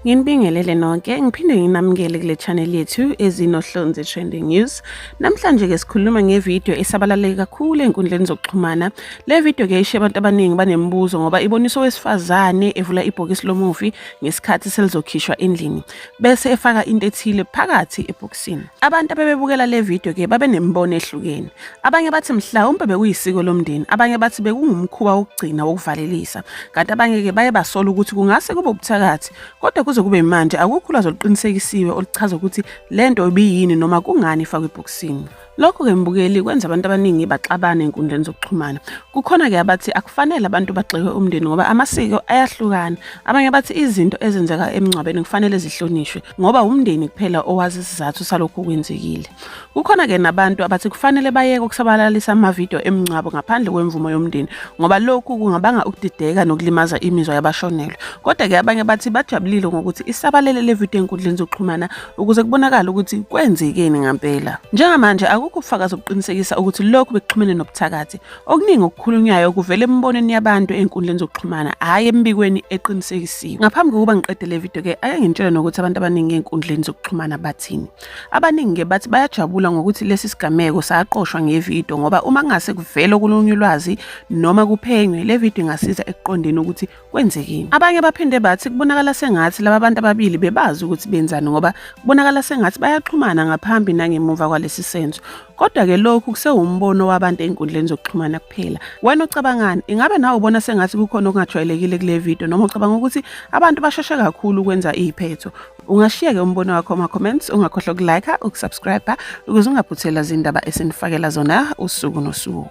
Nginibingelele nonke, ngiphinde nginamukele kule channel yethu ezinohlonze trending news. Namhlanje ke sikhuluma ngevideo esabalaleke kakhulu ezinkundleni zokuxhumana. Le video ke ishiye abantu abaningi banemibuzo ngoba ibonisa owesifazane evula ibhokisi lomufi ngesikhathi selizokhishwa endlini. bese efaka into ethile phakathi ebhokisini. Abantu abebebukela le video ke babenemibono ehlukene. Abanye bathi mhlawumbe bekuyisiko lomndeni, abanye bathi bekungumkhuba wokugcina wokuvalelisa. Kanti abanye ke baye basola ukuthi kungase kube ubuthakathi, kodwa kuze kube manje akukho ulwazi oluqinisekisiwe oluchaza ukuthi lento ibiyini noma kungani ifakwe ebhokisini. Lokhu-ke mbukeli kwenza abantu abaningi baxabane enkundleni zokuxhumana. Kukhona-ke abathi akufanele abantu bagxekwe umndeni ngoba amasiko ayahlukana. Abanye bathi izinto ezenzeka emngcwabeni kufanele zihlonishwe ngoba wumndeni kuphela owazi isizathu salokhu kwenzekile. Kukhona-ke nabantu abathi kufanele bayeke ukusabalalisa amavidiyo emngcwabo ngaphandle kwemvumo yomndeni ngoba lokhu kungabanga ukudideka nokulimaza imizwa yabashonelwe. Kodwa-ke abanye bathi bajabulile ngokuthi isabalele le vidiyo enkundleni zokuxhumana ukuze kubonakale ukuthi kwenzekeni ngampela. Njengamanje akukho ubufakazi obuqinisekisa ukuthi lokhu bekuxhumene nobuthakathi. Okuningi okukhulunywayo kuvela emibonweni yabantu ezinkundleni zokuxhumana, hhayi emibikweni eqinisekisiwe. Ngaphambi kokuba ngiqede le video ke ake ngintshele nokuthi abantu abaningi ezinkundleni zokuxhumana bathini. Abaningi ke bathi bayajabula ngokuthi lesi sigameko saqoshwa ngevideo ngoba uma kungase kuvele okulunye ulwazi noma kuphenywe le video ingasiza ekuqondeni ukuthi kwenzekeni abanye baphinde bathi kubonakala sengathi laba bantu ababili bebazi ukuthi benzani ngoba kubonakala sengathi bayaxhumana ngaphambi nangemuva kwalesi senzo kodwa-ke lokhu kusewumbono wabantu ey'nkundleni zokuxhumana kuphela wena ucabangani ingabe nawe ubona sengathi kukhona okungajwayelekile kule video noma ucabanga ukuthi abantu basheshe kakhulu ukwenza iy'phetho ungashiyeke umbono wakho ama-comments ungakhohlwa ukulike ukusubscribe ukuze ungaphuthelwa zindaba esinifakela zona usuku nosuku